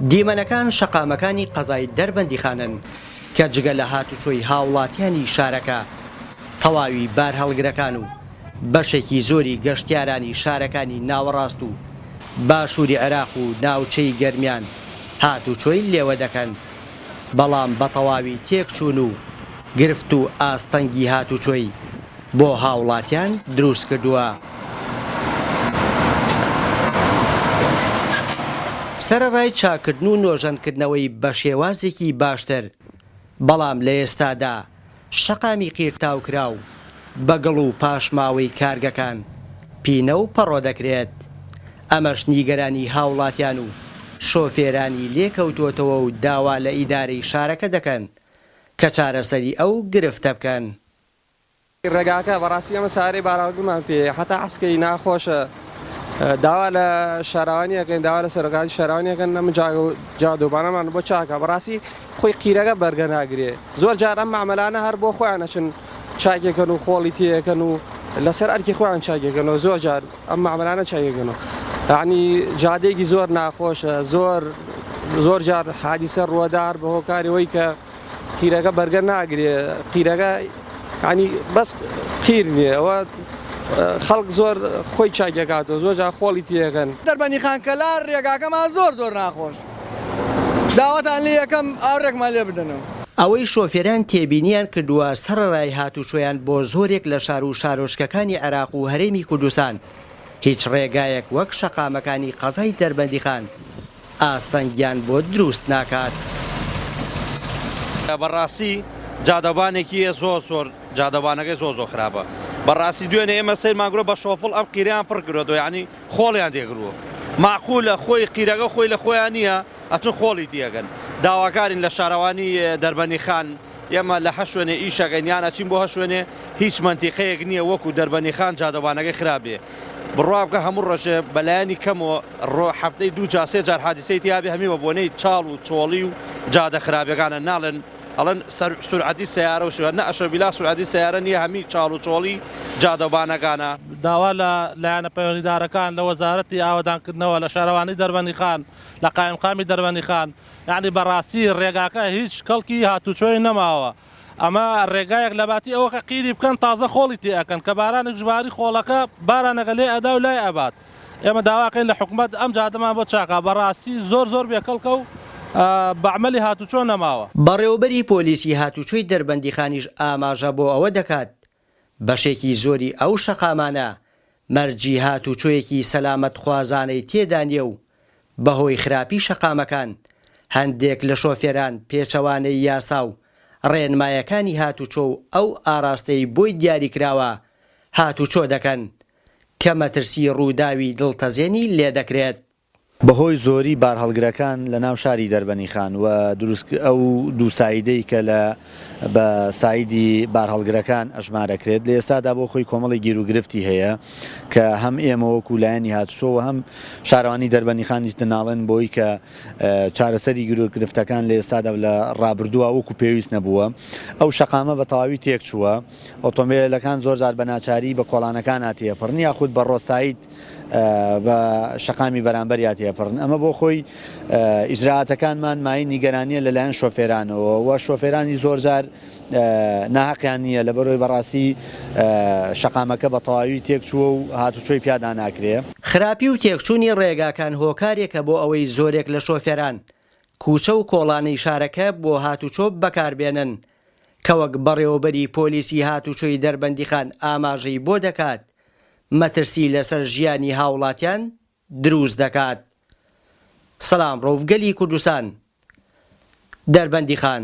دیمەنەکان شەقامەکانی قەزای دەربەندیخانن کە جگە لە هاتوچۆی هاوڵاتیانی شارەکە، تەواوی بارهەڵگرەکان و بەشێکی زۆری گەشتیارانی شارەکانی ناوەڕاست و باشووری عێراق و ناوچەی گەرمیان هاتوچۆی لێوە دەکەن، بەڵام بەتەواوی تێکچوون و گرفت و ئاستەنگی هاتوچۆی. بۆ هاوڵاتیان دروست کردووە. سەرەڕای چاککردن و نۆژەنکردنەوەی بە شێوازێکی باشتر، بەڵام لە ئێستادا شەقامی قیرتاوکراو بە گڵ و پاشماوەی کارگەکان پینە و پەڕۆ دەکرێت، ئەمەش نیگەرانی هاوڵاتیان و شۆفێرانی لێکەوتووەتەوە و داوا لە ئیدارەی شارەکە دەکەن کە چارەسەری ئەو گرفتە بکەن. ڕێگاکە بەڕاستی ئێمە چارەی باراوردمان پێیە هەتا عەسکەری ناخۆشە داوا لە شاراوانی ئەکەین داوا لە سەرۆکانی شاراوانی ئەکەن نەم جادۆبانەمان بۆ چاکە بەڕاستی خۆی قیرەکە بەرگە ناگرێ زۆر جار ئەم مامەلانە هەر بۆ خۆیان نەچن چاکێکەن و خۆڵی تێەکەن و لەسەر ئەرکی خۆیان چاکێکەنەوە زۆر جار ئەم مامەلانە چاکێکەنەوە تانی جادێکی زۆر ناخۆشە زۆر زۆر جار حادیسە ڕوەدار بە هۆکارەوەی کە قیرەکە بەرگە ناگرێ قیرەکە ینی بەس قیر نیە ئەوە خەڵک زۆر خۆی چاکەکاتەوە زۆر جا خۆڵی تێەکەن دەربەنی خانکەلار ڕێگاکەمان زۆر زۆر ناخۆش داوەتان لێ یەکەم ئاورێکمان لێ بدەنەوە. ئەوەی شۆفێران تێبینیان کردووە سەڕەرای هاتووچۆیان بۆ زۆرێک لە شار و شارۆچکەکانی عێراق و هەرێمی کوردستان هیچ ڕێگایەک وەک شەقامەکانی قەزای دەربەندیخان، ئاستەنگیان بۆ دروست ناکات. بەڕاستی جادەوبانێکی یە زۆر زۆر جادەوبانەکەی زۆر زۆر خراپە بەڕاستی دوێنێ ئێمە سەیرمان کرۆ بە شۆفڵ ئەم قیرەیان پڕ کرۆتەوە یانی خۆڵیان تێ کروە مەعقولە خۆی قیرەکە خۆی لە خۆیان نیە ئەچن خۆڵی تیەکەن داواکارین لە شارەوانی دەربەنی خان ئێمە لە هە شوێنێ ئیش ئەکەین یان ئەچین بۆ هە شوێنێ هیچ مەنتیقەیەک نیە وەکو دەربەنی خان جادەوانەکەی خراپ بێ بڕوا بکە هەموو ڕۆژێ بە لایەنی کەمەوە ڕۆ هەفتەی دوو جار سێ جار حادیسەی تیا بێ هەمی بە بۆنەی چاڵ و چۆڵی و جادە خراپەکانە ناڵێن ئەڵێن سەر سورعەتی سەیارە و شوێنە ئەشە بیلا سورعەتی سەیارە نیە هەمی چاڵ و چۆڵی جادەوبانەکانە. داوا لە لایەنە پەیوەندیدارەکان لە وەزارەتی ئاوەدانکردنەوە لە شارەوانی دەربەنی خان لە قایمقامی دەربەنی خان یانی بەڕاستی ڕێگاکە هیچ کەڵکی هاتوچۆی نەماوە ئەمە ڕێگایەک لەباتی ئەوە کە قیری بکەن تازە خۆڵی تێ ئەکەن کە بارانێکش باری خۆڵەکە بارانەکە لێ ئەدا و لای ئەبات ئێمە داواکەین لە حکومەت ئەم جادەمان بۆ چاکا بەڕاستی زۆر زۆر بێ کەڵکە و بە عەمەلی هاتوچۆ نەماوە. بەڕێوەبەری پۆلیسی هاتوچۆی دەربەندیخانیش ئاماژە بۆ ئەوە دەکات بەشێکی زۆری ئەو شەقامانە مەرجی هاتووچۆیەکی سەلامەتخوازانەی تێدا نییە و بەهۆی خراپی شەقامەکان هەندێک لە شۆفێران پێچەوانەی یاسا و ڕێنمایەکانی هاتووچۆ و ئەو ئاراستەی بۆی دیاریکراوە هاتووچۆ دەکەن کە مەترسی ڕووداوی دڵتەزێنی لێدەکرێت. بەهۆی زۆری بارهەڵگرەکان لە ناو شاری دەربەنیخان و دروست ئەو دوو سایدەی کە لە بە سایدی بارهەڵگرەکان ئەژمارەکرێت لە ئێستادا بۆ خۆی کۆمەڵی گیروگرفتی هەیە کە هەم ئێمە وەکو لایەنی هاتوچۆ و هەم شارەوانی دەربەنیخانیش دەناڵێن بۆی کە چارەسەری گیروگرفتەکان لە ئێستادا و لە ڕابردووا وەکو پێویست نەبووە ئەو شەقامە بە تەواوی تێکچووە ئۆتۆمبێلەکان زۆرجار بە ناچاری بە کۆڵانەکانا تێپەڕن یاخود بە ڕۆ ساید بە شەقامی بەرامبەریا تێپەڕن، ئەمە بۆ خۆی ئیجرائاتەکانمان مایەی نیگەرانییە لەلایەن شۆفێرانەوە و شۆفێرانی زۆرجار ناهەقیان نییە لەبەرئەوەی بەڕاستی شەقامەکە بە تەواوی تێکچووە و هاتوچۆی پیادا ناکرێ. خراپی و تێکچوونی ڕێگاکان هۆکارێکە بۆ ئەوەی زۆرێک لە شۆفێران کوچە و کۆڵانی شارەکە بۆ هاتوچۆ بەکاربێنن، کە وەک بەڕێوەبەری پۆلیسی هاتوچۆی دەربەندیخان ئاماژەی بۆ دەکات، مەترسی لەسەر ژیانی هاوڵاتیان دروست دەکات. سلام روف گەلی کوردستان دەربەندیخان.